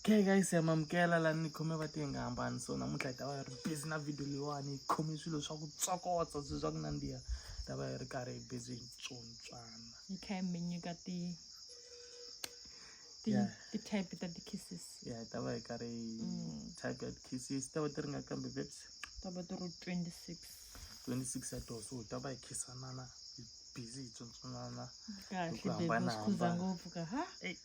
okay guys ya mamukela lani ni khome va tiye nga hambani so namuntlha hi ta va hi ri busy na video leyiwani hi khome swilo swa ku tsokotsa swi swa ku nandziha hi ta va hi ri karhi hi busy hi tsontswana yi kha hi mi nyika ti ti-type ta ti-kisses ya hi ta va hi karhi mm. type ya ti-kisses ta va ti ri nga kambe veps ta va ti ri twenty six twenty six ya toho so hi ta va hi khisanana hi busy hi tsontswanana kahle bebi swi khuza ngopfu ka ha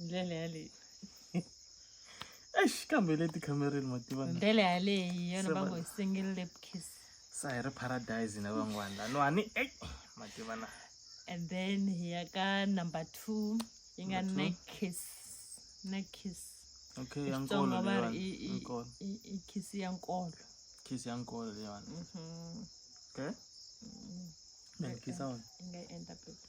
ndlela yaleyi eish kambe le tikhamereni ma tiva ndlela yaleyi yona va ngo hi single lip kiss sa hi ri paradise na van'wana lanwani ei ma tiva na and then hi ya ka number two yi nga neck kiss neck kiss okay ya nkolo va ri i kiss ya nkolo kiss ya nkolo leyiwani mhm. okay mm. then kiss on nga endla baby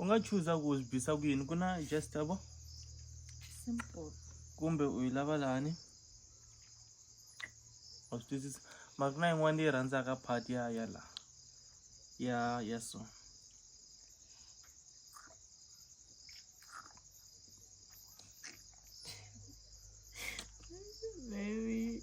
u nga chuza ku swi bisa ku yini ku na just abo kumbe u yi lava lani wa swi twisisa mara ku na yin'wana leyi rhandzaka part ya ya la ya ya so Baby.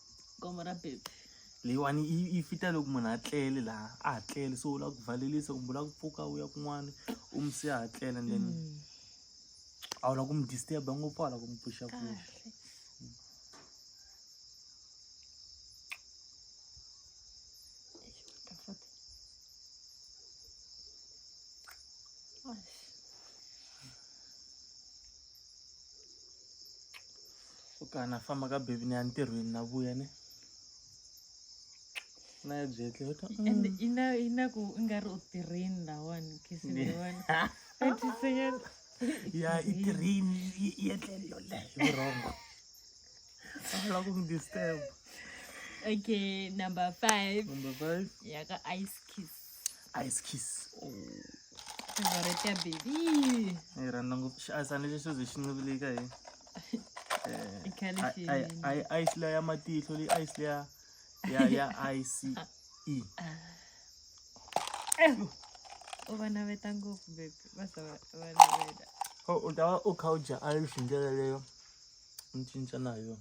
gome ra baby leyiwani yi yi fita loko munhu a tlele laha a ha tlele so u lava ku valelisa kumbe u lava ku pfuka u ya kun'wana u mi se a ha tlela and then mm. a wu lava ku mi disturba ngopfu a wu lava ku mi pfuxa pfuxa ka na famba ka baby ni ya ntirhweni na vuya ni na ya byetle and mm. ina ina ku i nga ri u tirhini lawani kisini lawani atiseyani ya i tirhini i etlele yoleyo vurhongo a va lava ku mi disturb okay number five number five ya ka ice kiss ice kiss oh. favorite ya baby Eh, rhanda ngopfu xi asana lexo ze xi ncivilika hi Eh, I khale i- xi- i- i- ice leya ya matihlo leyi ice leya ya ya ice u va naveta ngopfu baby va za va va naveta So, u ta va u kha u dya ice hi ndlela leyo u cinca na yona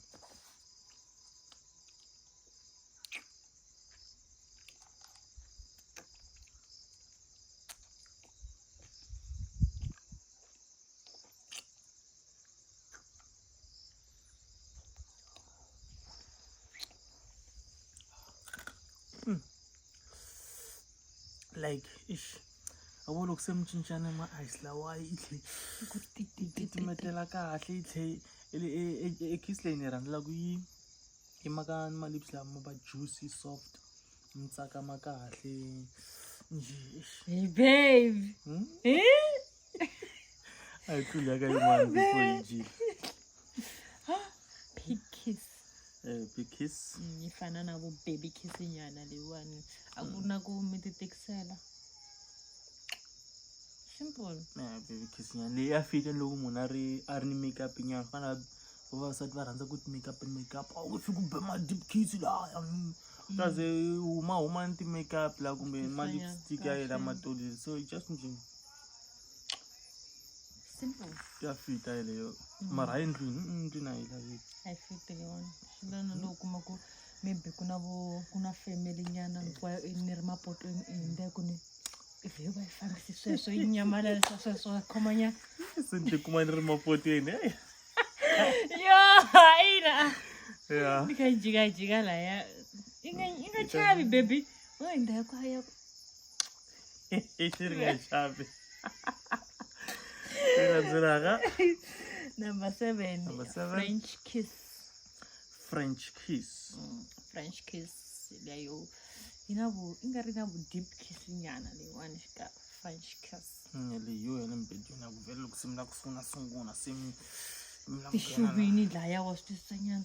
like ish a vo loko se mi cincana ma ice lawayi i tlhe ku titimetela kahle i tlhe e, e, e, e kiss leyi ni rhandzelaku yi I mhaka ma-lips lama ma va juicy soft mi tsakama kahle njhe babe hmm? a yi tluli yaka yin'wana before yi njile big kiss eh, big kiss mm, yi fana na ku baby kiss nyana leyiwani a ku na ku mi ti tikisela simple eh, baby kiss nyana leyi ya fita loko munhu a ri a ri ni makeup nyana fana vavasati va rhandza ku ti make up ni make up a wu fiki ku be ma deep kiss laya kaze huma huma ni ti make up la kumbe ma lipstick ya yena matoleli so just nje ya fita yeleyo mm. mara hayi ndlwini mm, ndlwini a yi laveki a yi fiti le wona swi lana lowu kuma ku maybe ku na vo ku na family nyana hinkwayo ni ri mapotweni i hindza ku ni vhiyo va yi fambisi sweswo yi nyamalalisa sweswo va khomanya se ni tikuma ni ri mapoteni eyi yo ina ya ni kha yi jikajika laya yi nga yi nga chavi baby o hi ndhawu kwa ya xi ri nga chavi ri landzelaka number seven Number seven. french kiss french kiss mm, french kiss leyo inavo ingari inavo deep kiss nyana leyiwani xika french kiss mm, leyo yale mbedi yona kuvele loko se mi la ku sungula sungula se mi mixuvini laya wa swi twisisa nyana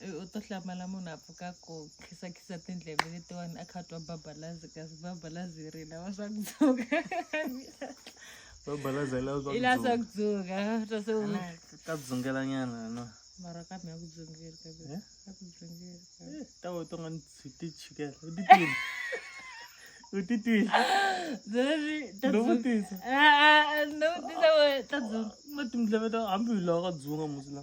I u to hlamala munhu a pfuka ku khisakhisa tindleve letiwani a kha twa babalazi kasi babalazi ri lava swa ku dzuka babalazi ri lava i lava swa ku dzuka twa se ka dzungela nyana no mara ka mi ya ku dzungela ka mi eh? ya ku dzungela eh, ta wo to nga ni tshwiti chikela u titwile u titwile zeri ta dzungela a a no tisa wo ta dzunga ma timdleve ta hambi u lava ka dzunga musila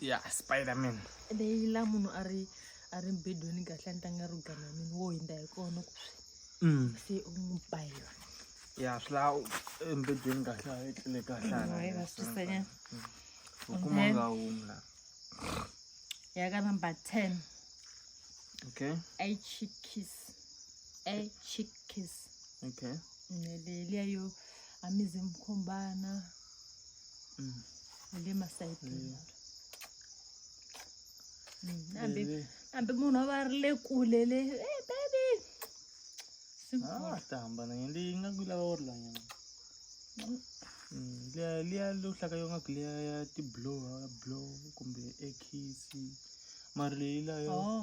ya spiderman leyi la munhu a ri a ri mbedweni kahle a ni tanga ro gana mina wo hindza hi kona ku swi mm. se u n'wi ba hi yona ya swi la embedweni kahle a etlele kahlelausanya mm, mm. u kuma nga humi la ya ka number ten okay a chick kiss a chick kiss okay nelelia yo amize mkhombana mm. le masayiti mm. hambi mm. hambi munhu a va ri le kule le e baby ah, ta hambana nge leyi nga ku lava wo ri lanyana liya liya lo hlaka yo nga ku liya ya tiblow ya blow kumbe ekisi mari leyi layo oh.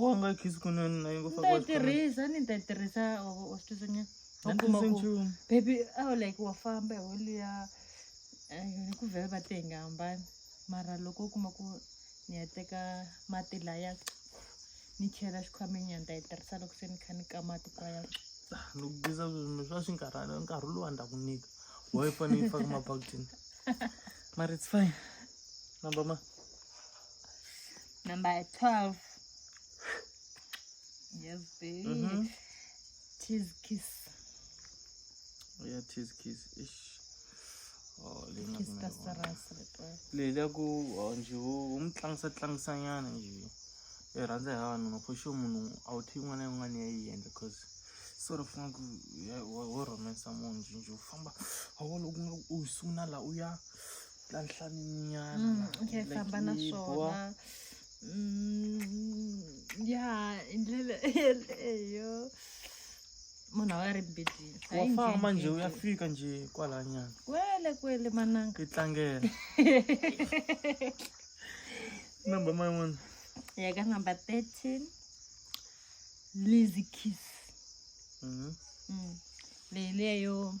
wanga kisi kunenaitirhisa ni ta tirhisa wa swi twisanya baby aw like wa famba holiya ni ku vhele va te hi nga hambani mara loko u kuma ku ni ya teka mati laya ni chela xikhwameni ya ni ta yi tirhisa loko se ni kha ni ka mati kwaya loko biza sweswi swa swi nkarhana nkarhi lowu a ni ta ku nyika wa yi fanele yi faka mabakitini mara it's fine Namba ma? Number 12. Yes, baby. Mm -hmm. Cheese kiss. Oh, yeah, cheese kiss. Ish. Oh, kiss ka sarasi leli ya ku oh, nje u mi tlangisa tlangisanyana nje i e rhandza hi vavanuna for sure munhu a wu thi yin'wana na yin'wana ya yi endla cause sort of ngaku wo rhomensa munhu nje nje u famba a wolo u nga u sungula laha u ya ka nhlaninyana mm, ya famba na swona mm, ya hi ndlela yeleyo munhu a ri mbedini wa famba nje u ya fika nje kwalanyana kwele kwele mananga yi tlangela number ma yin'wana ya ka number thirteen lazy kiss mm-hmm. mm. leyi leyo mm.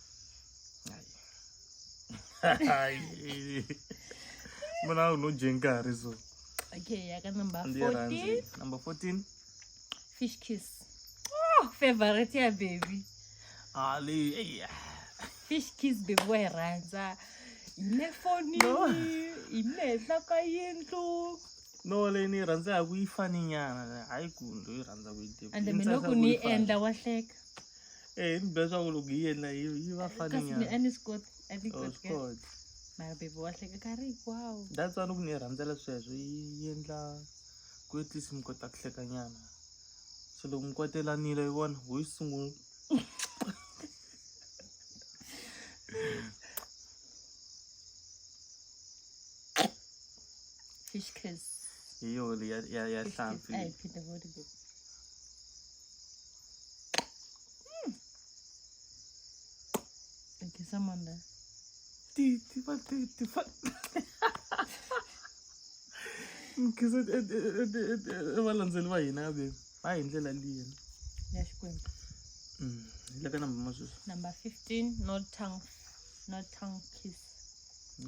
muna unojengari so okay yaka number 14 number 14 fish kiss oh, favorite ya baby ali ah, fish kiss baby wayirhandza ine fonini ine henhla ka yindlu no leyi ni yi rhandzaka yi faninyana hayi ku ndo yi rhandza ku yi ande mi loko ni yi endla wa hleka Eh, ni besa ku loko yi yena yi yi va fani kasi ni a nyana ni swi koti a ni Oh, koti swi ka- kota. mara bebe wa hleka ka ri hinkwawo that's why ni ku ni yi rhandzela sweswo yi yi endla ku at least mi kota ku hleka nyana so loko mi kotelanile yi vona ho yi sungula fish kiss hi yo leyi ya ya ya Fish kiss. hlampfi a hi phinde voni bebe Aqui, Samanda. Titi, batete, nkhiza valandzeli va hina ve va hi ndlela liya ya xikwembu mm, hi le ka number ma sweswi number 15 no tongue no tongue kiss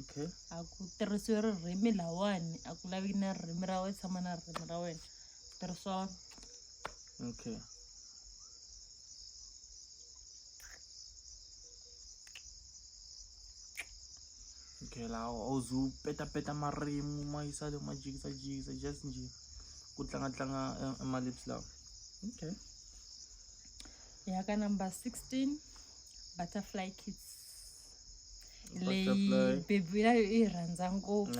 okay a ku tirhisiwe ririmi lawani a ku laveki na ririmi ra wena tshama na ririmi ra wena tirhisiwa Okay. Okay, lawa awuze upetapeta marimi ma yisa le ma jikisajikisa just nje ku tlangatlanga emalips lawa okay ya ka number 16 butterfly kids leyi bebi yayo yi rhandza ngopfu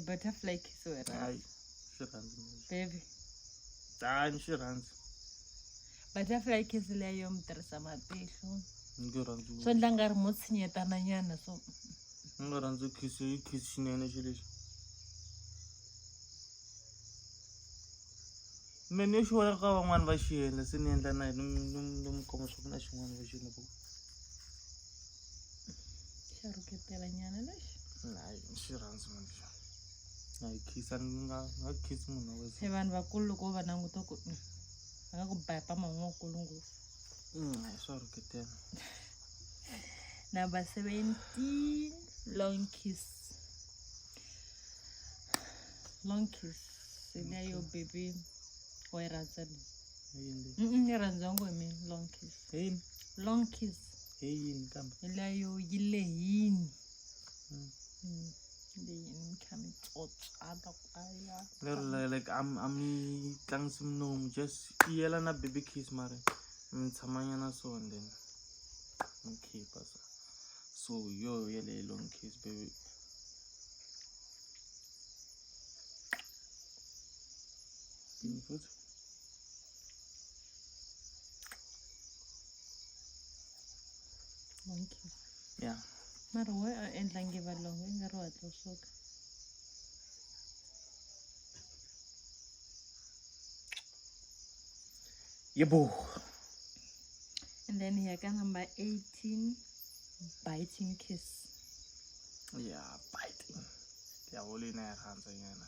butterfly kids wena swi rhandzi baby dani swi rhandzi butterfly kiss leyo mi tirhisa matihlo ndzi rhandzi swo ndla nga ri mo tshinyetana nyana so ni nga rhandzi kiss yi kiss xinene xi lexi me ni xi vona ka van'wani va xi endla se ni endla na hi ni mi komba swa ku na xin'wana va xi endla ku xa rhuketela nyana lexi nayi xi rhandzi manje a hi khisa ni nga nga khisi munhu wa wesa se vanhu vakulu loko wo va languta ku mm, va nga ku baya pama un'we wukulu ngopfu Mm, a hi swa rhuketela number 17 long kiss long kiss leyo baby wa yi rhandza ni hi yini leyi? Mm-mm, ni rhandza ngo hi mina long kiss hi yini long kiss hi yini kambe leyo yi lehini lero like a mi a mi tlangisi minomu just i yela na baby kiss mara mi tshamanyana so and then mi khipa so so yo yeleyo long kiss baby futhi Monkey. Yeah. Mara why a endla nge valongo i nga ri hatla u suka. Yebo. And then ya ka number 18 biting kiss. Yeah, biting. Ya volina ya rhandza yena.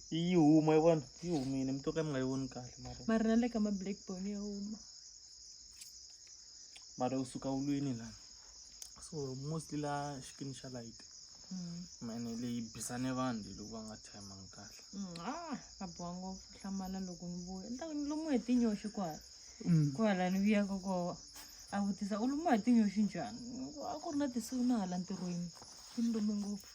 yi huma yi vona yi humile mi to ka mi nga yi voni kahle mara mara na le ka ma-black bone ya huma mara u suka ulwini lana so mostly la xikini xa light Mm. mane leyi bisane vanhu leyi loko va nga tshembangi kahle Mm, ah, a boha ngopfu hlamala loko ni vuya ni ta ku ni lumiwe hi tinyoxi kwala kwala ni vuyaka kona a vutisa u lumiwa hi tinyoxi njhani Ni ku, a ku ri na tisiku na hala ntirhweni swi ni lume ngopfu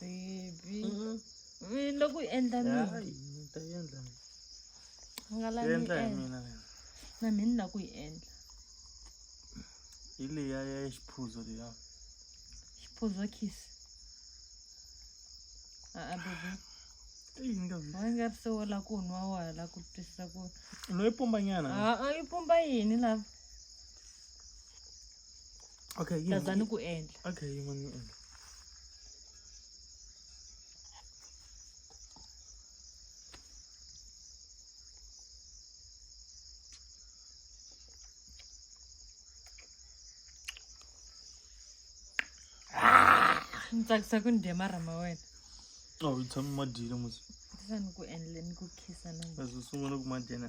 Baby. Mm-hmm. Mina loko u endla mina. Hayi, ni ta yi endla mina. U nga lavi ni Endla hi endla. mina wena. Na mina ni lava ku yi endla. Hi leya ya xiphuzo leya. Xiphuzo kiss. A-a baby. I yi nga vi. Wa nga ri se wo la ku nwa wa ha la ku twisisa ku. No yi pumbanyana. A-a yi pumba yini lava? okay taza ni ku endla okay yin'wana ni endla ni tsakisa ku ni dya marhama wena a wu tshami ma dyile musi sa ni ku endle ni ku khisa na leswi sungula ku ma dyena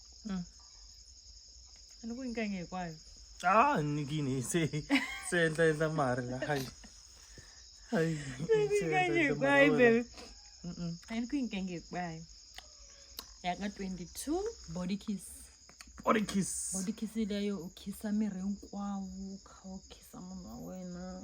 응. Ano ko yung kanya ko ay? Ah, nigini se se enta enta marla hay. Hay. Ano ko yung kanya ko ay baby? Mm. Ano ko yung kanya ko ay? Yaka 22 body kiss. Body kiss. Body kiss leyo ukisa miri hinkwawo u kha u khisa munhu wa wena.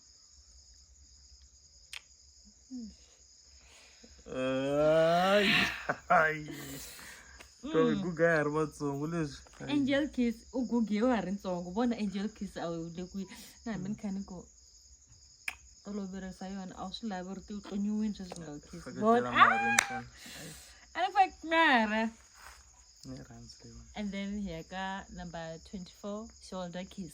guga ya ri vatsongo leswi angel kiss u gugiwe ha ri ntsongo vona angel kiss a wu le kwihi na hambi ni kha ni ku toloverisa yona a wu swi lavi ri ti u tlonyiwini sweswi nga wu kiss vona a ni fake mara and then here ka number 24 shoulder kiss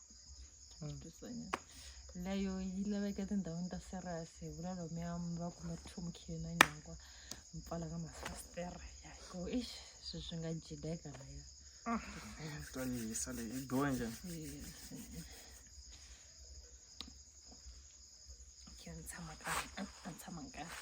layo yi laveka etindhawini ta serious hi vula lomuya mi va kume ri tlhumukile na nyangwa mi pfala ka mafasitere ya ku ixi swi swi nga jideka laya ta yisa leyi yi biwa njhani khe ni tshama kahle a a ni tshama kahle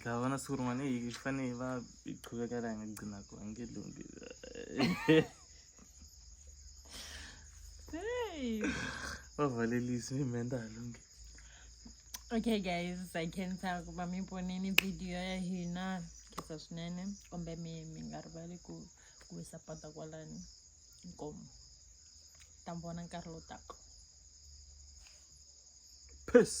ndavona siku rin'wana eyi swi fanele va yi qhuveka la nga gcina ku a nge lunghi va valelisi mi mhenda ha lunghi okay guys i can tell ku va mi vonini video ya hina kisa swinene kumbe mi mi nga rivali ku ku yi sapota kwalani inkomo ta mi vona nkarhi lowu taka peace